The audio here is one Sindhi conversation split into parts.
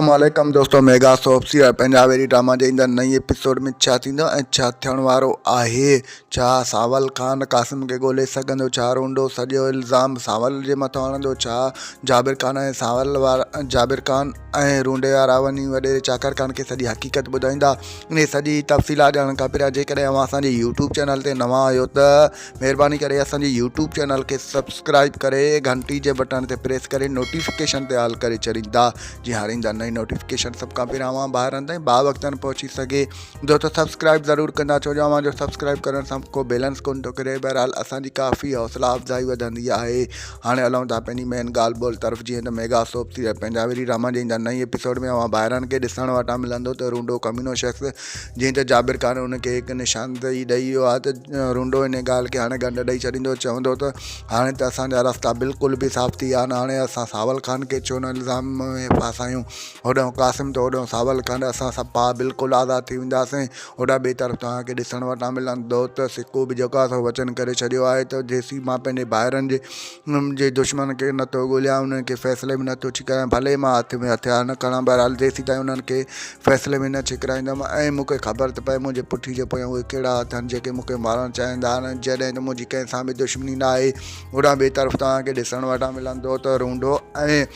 اسلام عليڪم دوستو ميگا سوپ سيريل پنجاب ايري ڊراما جي ايندڙ نئين ايپيسوڊ ۾ ڇا ٿيندو ۽ ڇا ٿيڻ وارو آهي ڇا سانول خان قاسم کي ڳولي سگهندو ڇا رونڊو سڄو الزام سانول جي مٿان هڻندو ڇا جابر خان ۽ سانول وارا جابر خان ۽ رونڊي وارا وڃي وڏيري چاڪر خان کي سڄي حقيقت ٻڌائيندا انهي سڄي تفصيلات ڄاڻڻ کان پهريان جيڪڏهن اوهان اسان جي يوٽيوب چينل تي نوان آهيو ته مھرباني ڪري اسان جي يوٽيوب چينل کي سبسڪرائب ڪري گھنٽي جي بٽڻ تي پريس ڪري نوٽيفڪيشن تي آل ڪري ڇڏيندا جي ھر ايندا نئين نوٽيفڪيشن سڀ کان پھريان اوھان ڀائرن تائين با وقتن پھچي سگھي دوستو سبسڪرائب ضرور ڪندا ڇو جو اوھان جو سبسڪرائب ڪرڻ سان ڪو بيلنس ڪون ٿو ڪري بھرحال اسان جي ڪافي حوصلا افزائي وڌندي آھي هاڻي هلون ٿا پنهنجي مين ڳالهه ٻولهه طرف جيئن ته ميگا سوپ ٿي ويا پنهنجا وري راما جن جا نئين ايپيسوڊ ۾ اوهان ڀائرن کي ڏسڻ وٽان ملندو ته رونڊو ڪمينو شخص جيئن ته جابر خان ان کي هڪ نشاندهي ڏئي ويو آهي ته رونڊو ان ڳالهه کي هاڻي ڳنڍ ڏئي ڇڏيندو چوندو ته هاڻي ته اسان جا رستا بلڪل به صاف ٿي ويا آهن هاڻي اسان ساول خان کي ڇو نه الزام ۾ ڦاسايون هوڏانهن قاسم ته هوڏانهن ساول خان اسان سڀ ڀاء بلڪل آزاد ٿي وينداسين هوڏانهن ٻئي طرف توهان کي ڏسڻ وٽان ملندو ته سڪو به جيڪو آهي سو وچن ڪري ڇڏيو آهي ته جيسين مان پنهنجي ڀائرن جي جي دشمنن کي نه ٿو ڳوليان انهن کي فيصلي ۾ نه ٿو ڇڪرايان ڀلي مان هٿ ۾ هٿيار نه کڻان بهرحال جيسين تائين انهن کي فيصلي ۾ نه ڇڪرائيندم ۽ مون کي خبر ته پئي منهنجي پٺي جي پويان اهي ڪهڙا اٿن جيڪي مون کي مارڻ چاهيندا آهن ۽ جڏهن ته منهنجي ڪنهن سان به دشمني نه آهي هوڏانهن ٻئي طرف توهان کي ڏسڻ وٽان ملندو ته رونڊو ۽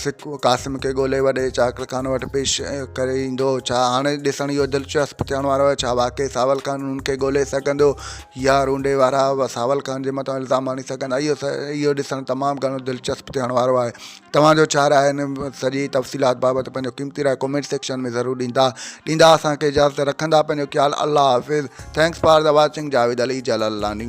سڪ قاسم کي ڳولي وڏي چاڪر خان وٽ پيش ڪري ايندو ڇا هاڻي ڏسڻ اهو دلچسپ ٿيڻ وارو آهي ڇا واقعي ساول خان هن کي ڳولي سگهندو يا رونڊي وارا ساول خان جي مٿان الزام هڻي سگهندا اهو اهو ڏسڻ تمام گهڻو دلچسپ ٿيڻ وارو آهي توهان جو ڇا راء هن سڄي تفصيلات بابت پنهنجو قيمتي راء ڪمينٽ سيڪشن ۾ ضرور ڏيندا ڏيندا اسان کي اجازت رکندا پنهنجو خيال الله حافظ thanks for the watching Javed Ali Jalalani